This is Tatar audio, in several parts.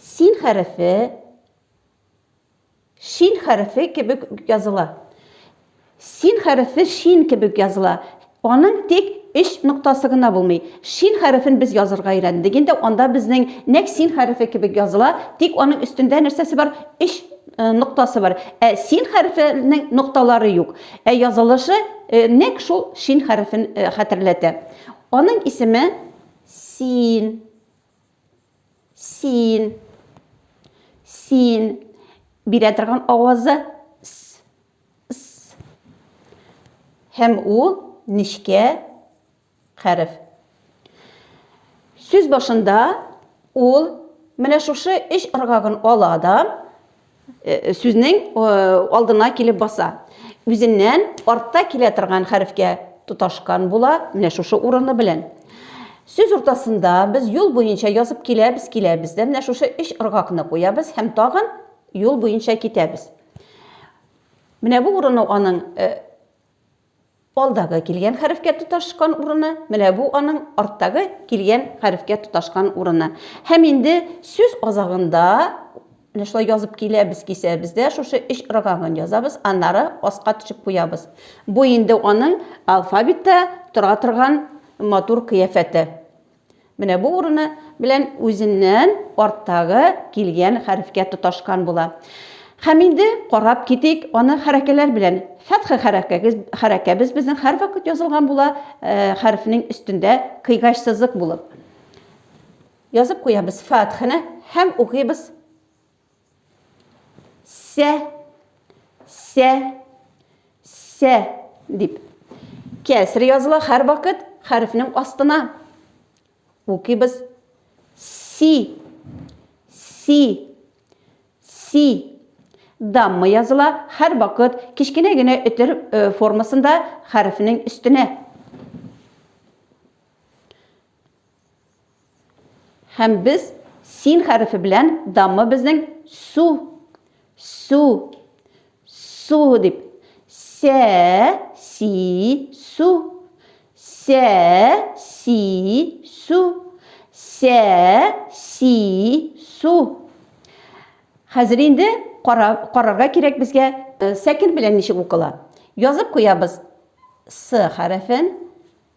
Син хәрефе шин хәрефе кебек языла. Син хәрефе шин кебек языла. Аның тик өч ноктасы гына булмый. Шин хәрефен без язырга өйрәндек. Инде анда безнең нәк син хәрефе кебек языла, тик аның өстендә нәрсәсе бар? Өч э, ноктасы бар. Ә син хәрефенең нокталары юк. Ә язылышы э, нәк шул шин хәрефен э, хәтерләтә. Аның исеме син, син, син. Бирә торган авазы с, с. Һәм ул нечкә хәреф. Сүз башында ул менә шушы өч ыргагын ала да, э, сүзнең э, алдына килеп баса. Үзеннән артта килә торган хәрефкә тоташкан була, менә шушы урыны белән. Сүз уртасында без юл буенча язып киләбез, киләбез дә менә шушы өч ыргакны куябыз һәм тагын юл буенча китәбез. Менә бу урыны аның э, Алдагы килгән хәрефкә тоташкан урыны, менә бу аның арттагы килгән хәрефкә тоташкан урыны. Һәм инде сүз азагында менә шулай язып киләбез, кисәбез дә шушы өч ыргагын язабыз, аннары аска төшеп куябыз. Бу инде аның алфавитта тора торган матур кыяфәте. Менә бу урыны белән үзеннән арттагы килгән хәрефкә тоташкан була. Һәм инде карап китик аны хәрәкәләр белән. Фәтхе хәрәкәгез хәрәкәбез безнең һәрвакыт язылган була, э, хәрефнең өстендә кыйгач сызык булып. Язып куябыз фәтхене һәм укыйбыз. Сә, сә, сә дип. Кәсер языла һәр вакыт хәрефнең астына. Укыйбыз. Си, си, си. Дамма языла һәр вакыт кечкенә генә өтер э, формасында хәрефнең өстенә. Һәм без син хәрефе белән дамы безнең су, су, су дип. Сә, си, су. Сә, си, су. Сә, си, су. Хәзер инде карарга кирәк безгә сәкин белән ничек укыла. Язып куябыз с хәрефен.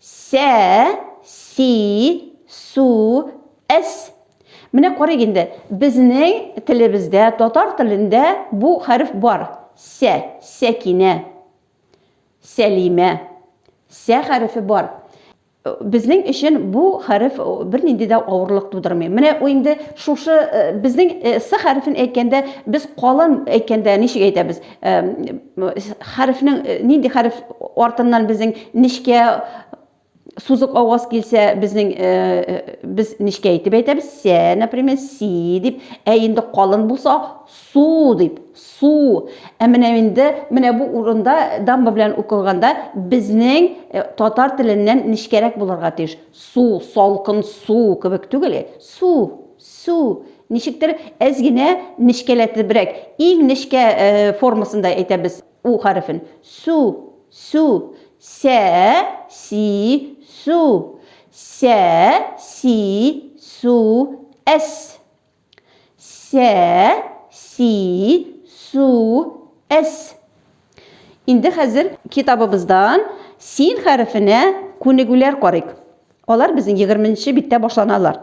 Сә, си, су, эс. Менә карыйк инде, безнең телебездә, татар телендә бу хәреф бар. Сә, Сәкинә, Сәлимә. Сә хәрефе бар. Безнең өчен бу хәреф бернинди дә авырлык тудырмый. Менә ул инде шушы безнең с хәрефен әйткәндә, без калын әйткәндә ничек әйтәбез? хәрефнең нинди хәреф артыннан безнең нечкә сузык аваз килсә безнең без нечкә итеп әйтәбез сә например си дип ә инде калын булса су дип су ә менә инде менә бу урында дамба белән укылганда безнең татар теленнән нечкәрәк булырга тиеш су салкын су кебек түгел су Су, ничектер әз генә нечкәләтебрәк, иң нечкә формасында әйтәбез у хәрефен. Су, су. Сә, си, су. Сә, си, су, әс. Сә, си, су, әс. Инде хәзер китабыбыздан син хәрефенә күнегүләр карыйк. Алар безнең 20 нче биттә башланалар.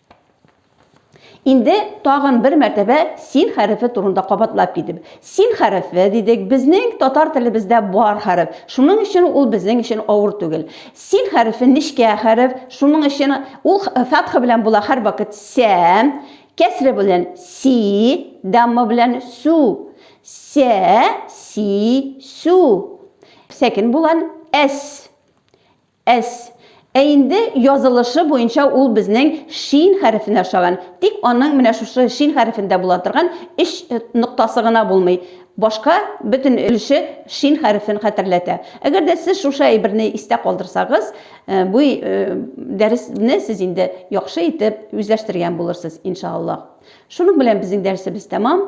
Инде тагын бер мәртәбә син хәрефе турында кабатлап китеп. Син хәрефе, дидек, безнең татар телебездә бар хәреф. Шуның өчен ул безнең өчен авыр түгел. Син хәрефе нечкә хәреф, шуның өчен ул фәтха белән була һәрвакыт сә, кәсре белән си, дамма белән су. Сә, си, су. Сәкен булган әс. Әс. Ә инде язылышы буенча ул безнең шин хәрефенә охшаган, тик аның менә шушы шин хәрефендә була торган өч ноктасы гына булмый, башка бөтен өлеше шин хәрефен хәтерләтә. Әгәр дә сез шушы әйберне истә калдырсагыз, бу дәресне сез инде яхшы итеп үзләштергән булырсыз, иншааллаһ. Шуның белән безнең дәресебез тәмам.